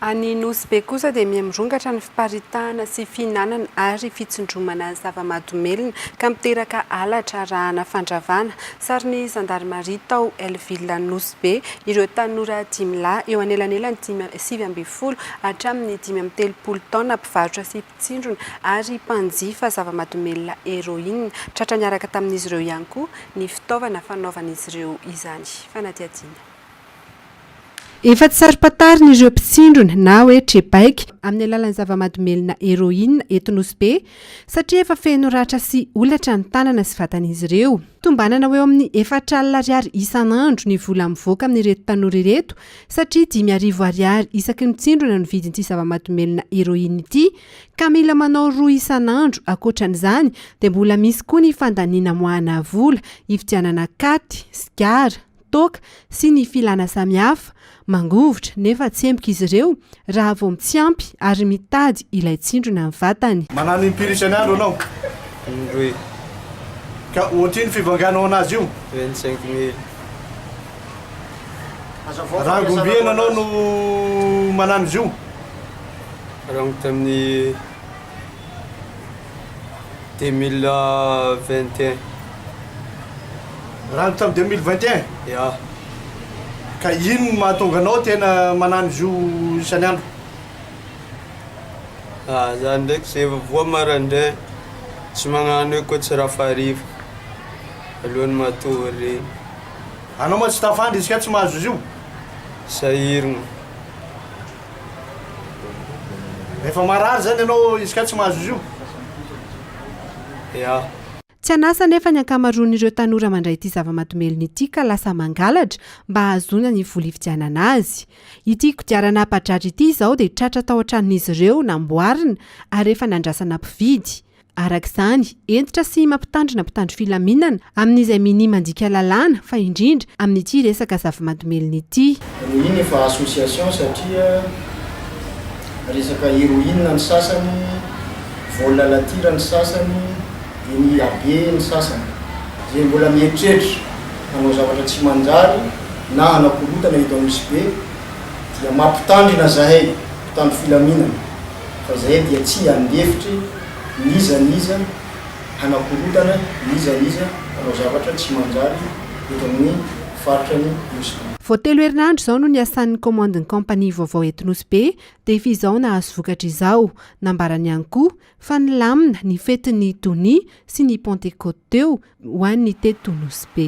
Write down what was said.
Any Nosy Be kosa dia miha mirongatra ny fiparitahana sy fihinanana ary fitsindromana zava-mahadomelina ka miteraka halatra arahana fandravana. Sarin'ny zandarimaria tao El Villa Nosy Be ireo tanora dimy lahy eo anelanelan'ny dimy sivy ambin'ny folo hatramin'ny dimy amby telopolo taona mpivarotra sy mpitsindrona ary mpanjifa zava-mahadomelina Heroine. Tratra niaraka tamin'izy ireo ihany koa ny fitaovana fanaovan'izy ireo izany fanadihadiana. Efa tsy saro-pantarina ireo mpitsindrona na hoe trebaika amin'ny alalan'ny zava-mahadomelina heroine eto Nosy Be satria efa feno ratra sy holatra ny tanana sy vatan'izy ireo. Tombanana ho eo amin'ny efatra alina ariary isan'andro ny vola mivoaka amin'ireto tanora ireto satria dimy arivo ariary isaky ny mpitsindrona no vidin'ity zava-mahadomelina heroine ity ka mila manao roa isan'andro, ankoatran'izany dia mbola misy koa ny fandaniana amoahana vola hividianana katy, sigara. toaka sy ny filana samihafa, mangovitra nefa tsy empoka izy ireo raha vao tsy ampy ary mitady ilay tsindrona ny vatany. Manano impiry isan'andro ianao? Indroy. Ka ohatr'ino fivanganao an'azy io? Vingt cinq mille. Rangom-by eny ianao no manano izy io? Rangom-by tamin'ny. Deux mille vingt et un. Raha ny tamin'ny deux mille vingt et un? Ya. Ka inona no mahatonga anao tena manano izy io isan'ny andro? Ah, za ndraiky zay vao voa maraindray, tsy magnano hoe koa tsy rafariva alohan'ny matory regny. Anao mantsy tafandry izy ka tsy mahazo izy io? Sahiragna. Rehefa marary izany ianao, izy kay tsy mahazo izy io? Eah. Tsy an'asa anefa ny ankamaroan'ireo tanora mandray ity zava-mahadomelina ity ka lasa mangalatra mba hahazoana ny vola hividianana azy. Ity kodiarana ampadrary ity izao dia tratra tao an-tranon'izy ireo namboarina ary efa nandrasana mpividy. Araka izany, hentitra sy mampitandrina mpitandro filaminana amin'izay minia mandika lalàna fa indrindra amin'ity resaka zava-madomelina ity. Rohiny efa association satria resaka heroine ny sasany, vol à la tire ny sasany, dia ny abbé ny sasany. Izay mbola mieritreritra hanao zavatra tsy manjary na hanao korotana eto Anosibe dia mampitandrina zahay mpitandro filaminana. fa izahay dia tsy handefitry n'iza n'iza hanakorotana n'iza n'iza hanao zavatra tsy manjary eto amin'ny faritra ny Nosy Be. Vao telo herinandro izao no niasan'ny kaomandin'ny kaompania vaovao eto Nosy Be dia f'izao nahazo vokatra izao. Nambarany ihany koa fa nilamina ny fetin'ny Donia sy ny Pantekoty teo ho an'ny teto Nosy Be.